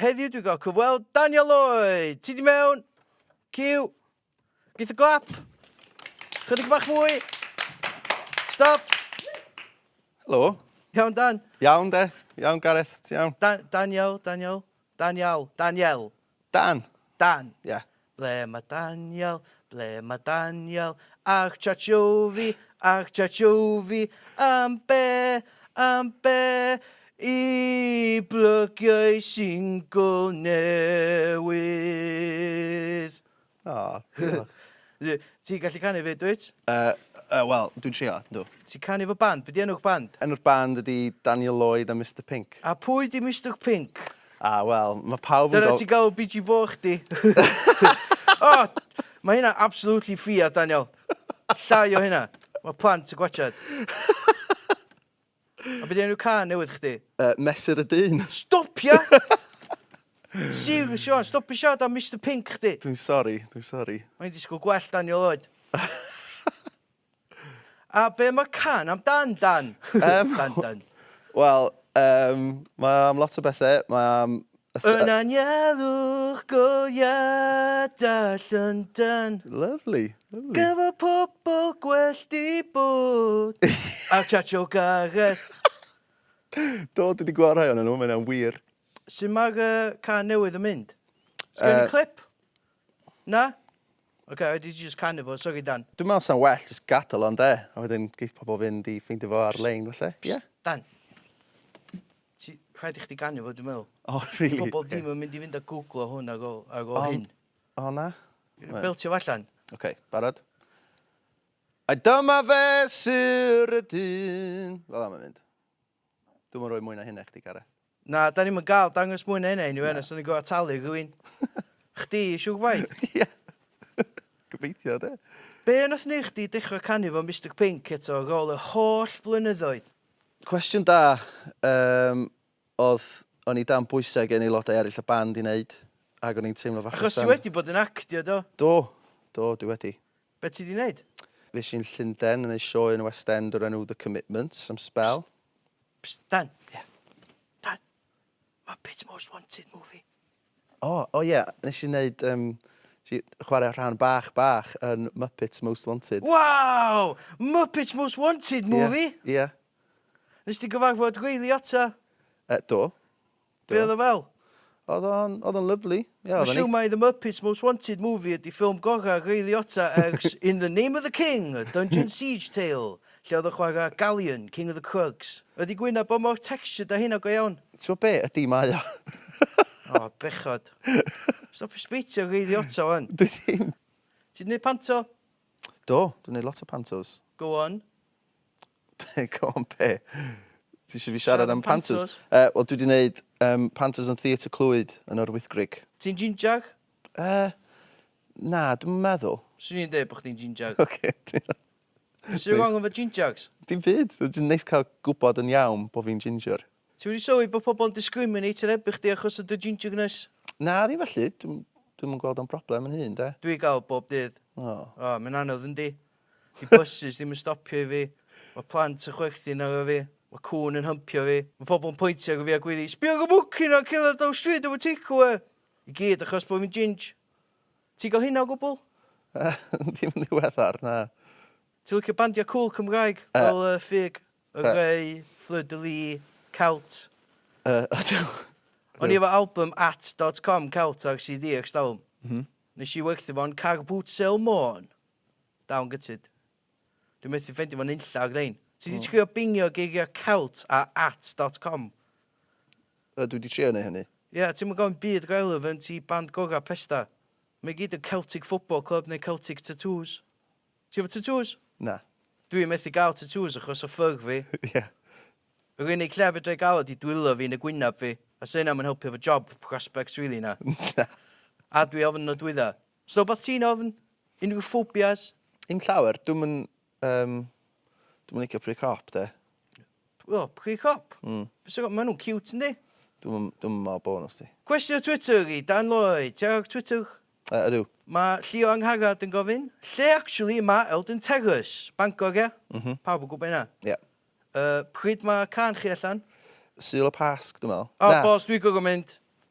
Heddiw dwi'n cael cyfweld Daniel Lloyd. Ti di mewn? Cyw. Geith y glap. Chydig bach mwy. Stop. Helo. Iawn, Dan. Iawn, de. Iawn, Gareth. Ti iawn? Da Daniel, Daniel. Daniel. Daniel. Dan. Dan. Ie. Yeah. Ble mae Daniel? Ble mae Daniel? Ach Chachofi, ach Chachofi, am be, am be i blygiau singl newydd? O, diolch. Ti'n gallu canu fyd, dwyt? Uh, uh, Wel, dwi'n trio, dw. Ti'n canu fo band? Be di enw'ch band? Enw'r band ydi Daniel Lloyd a Mister Pink. A pwy di Mister Pink? A wel, mae pawb yn gofyn... Dyna ti'n galw biji bo chdi? O! Mae hynna absolutely ffiaidd, Daniel. Llai o hynna. Mae plant yn gwachad. A be di enw cân newydd chdi? Uh, Mesur y Dyn. Stopia! Siw, Siwan, stopi siarad am Mister Pink chdi. Dwi'n sori, dwi'n sori. Mae'n disgwyl gwell Daniel oed. A be mae can am dan, Dan? Yym, Dan, Dan. Wel, um, mae am lot o bethau. Mae am... Yn anialwch go iada Llundain. Lovely, lovely. Gyfo pobl gwell di bod. a Chacho Gareth. Do, dwi wedi gweld rhai o'n nhw, mae'n wir. Sut mae'r uh, can newydd yn mynd? Sgen uh, clip? Na? Ok, I did just canu fo, sori Dan. Dwi'n meddwl sa'n well just gadael o'n de, a wedyn geith pobl fynd i ffeindio fo ar-lein felly, ie? Dan, ti, rhaid i chdi ganu fo dwi'n meddwl. O, oh, really? Di pobl ddim yn mynd i fynd a googlo hwn ag o, ag o hyn. O na? Beltio fo allan. Ok, barod? A dyma fe syr y dyn. Fel am yn mynd. Dwi'm yn rhoi mwy na hynna i chdi, Gareth. Na, da ni'm yn gael dangos mwy na hynna i ni, Wen, os da ni'n gorfod talu rhywun. Chdi, siw gwaith. Ie. Gobeithio, de. Be nath wneud chdi dechrau canu fo Mister Pink eto ar ôl yr holl flynyddoedd? Cwestiwn da um, oedd o'n i dan bwysau gen aelodau eraill y band i wneud, ac o'n i'n teimlo fach Achos ti wedi bod yn actio, do? Do, do, dwi wedi. Be ti 'di neud? Fues i'n Llunden yn neud sioe yn y West End o'r enw The Commitments am sbel. Psst, Dan. Ie. Dan, Muppets Most Wanted movie. O, o ie, nes i neud, um, nes i chwarae rhan bach bach yn Muppets Most Wanted. Waw! Muppets Most Wanted movie? Ie, ie. Nes di gyfarfod gweili ata? Uh, do. Be oedd o fel? Oedd o'n, oedd o'n lyfli. Ie, oedd o'n neis. Mae The Muppets Most Wanted Movie ydi ffilm gorau Ray Liotta ers In the Name of the King, A Dungeon Siege Tale, lle oedd o'n chwarae Galien, King of the Krugs. Ydi gwyn a bo mor textured a hynna go iawn? T'mo be, ydi, mae o. O, bechod. Stopio sbeitio Ray Liotta wan. Dwi ddim. Ti'n neud panto? Do, dwi'n neud lot o pantos. Go on. Go on be? Ti eisiau fi siarad am Pantos? Yy, wel dwi wedi gwneud um, Pantos yn Theatr Clwyd yn yr Wythgrig. Ti'n ginjag? Uh, na, dwi'n meddwl. Swn i'n dweud bod chdi'n ginjag. Oce. Okay. Sut wrong efo ginjags? Dim byd, dwi'n neis cael gwybod yn iawn bod fi'n ginger. Ti wedi sylwi bod pobl yn discriminate yn ebu chdi achos o dy ginjagness? Na, ddim felly. Dwi'n dwi gweld o'n broblem yn hun, de. Dwi'n gael bob dydd. O. Oh. O, oh, mae'n anodd yndi. 'Di bysus ddim yn stopio i fi. Mae plant yn chwerthin arno fi. Mae cŵn yn hympio fi. Mae pobl yn pointio arno fi a gwyddu, 'Sbia ar y mwci 'na cerdded ar draws stryd efo takeaway! I gyd achos bod fi'n ginj. Ti'n cael hynna o gwbl? Ddim yn ddiweddar, na. Ti'n licio bandiau cŵl Cymraeg fel y Ffug, y Rhei, Fleur de Lis, Celt? Ydw. O'n i efo album At dot com Celt ar CD ers talwm. Wnes i werthu fo'n Car Boot Sale Môn. Now yn gytid. Dwi methu ffendio fo nunlla o grein. Ti di trio bingio geiriau celt a at dot com? Yy dwi di trio neu hynny. Ie, ti'm yn gofyn byd go elw fy nti band gora pesta. Mae gyd yn Celtic football club neu Celtic tatŵs. Ti efo tatŵs? Na. Dwi methu gael tatŵs achos o ffyg fi. Ie. Yr unig lle fedrai gael o di dwylo fi yn y gwynab fi. A sy hynna ddim yn helpu efo job prospects rili na? Na. A dwi ofn nodwydda. Sut wbath ti'n ofn? Unrhyw phobias? Dim llawer. Dwi'm yn yym dwi'm yn licio pry cop 'de. O pry cop? Hmm. Be' sy ma' nw'n ciwt yndi? Dwi'm yn dwi'm yn me'wl bo' n'w sdi. Cwestiwn Twitter i Dan Lloyd. Ti ar Twitter? Yy ydw. Ma' Llio Angharad yn gofyn, lle actually ma' Eldon Terrace? Bangor ia? M-hm. Pawb yn gwbo hynna. Ia. Yy pryd ma' cân chi allan? Sul y Pasg dwi me'wl. O boss dwi gor'o mynd.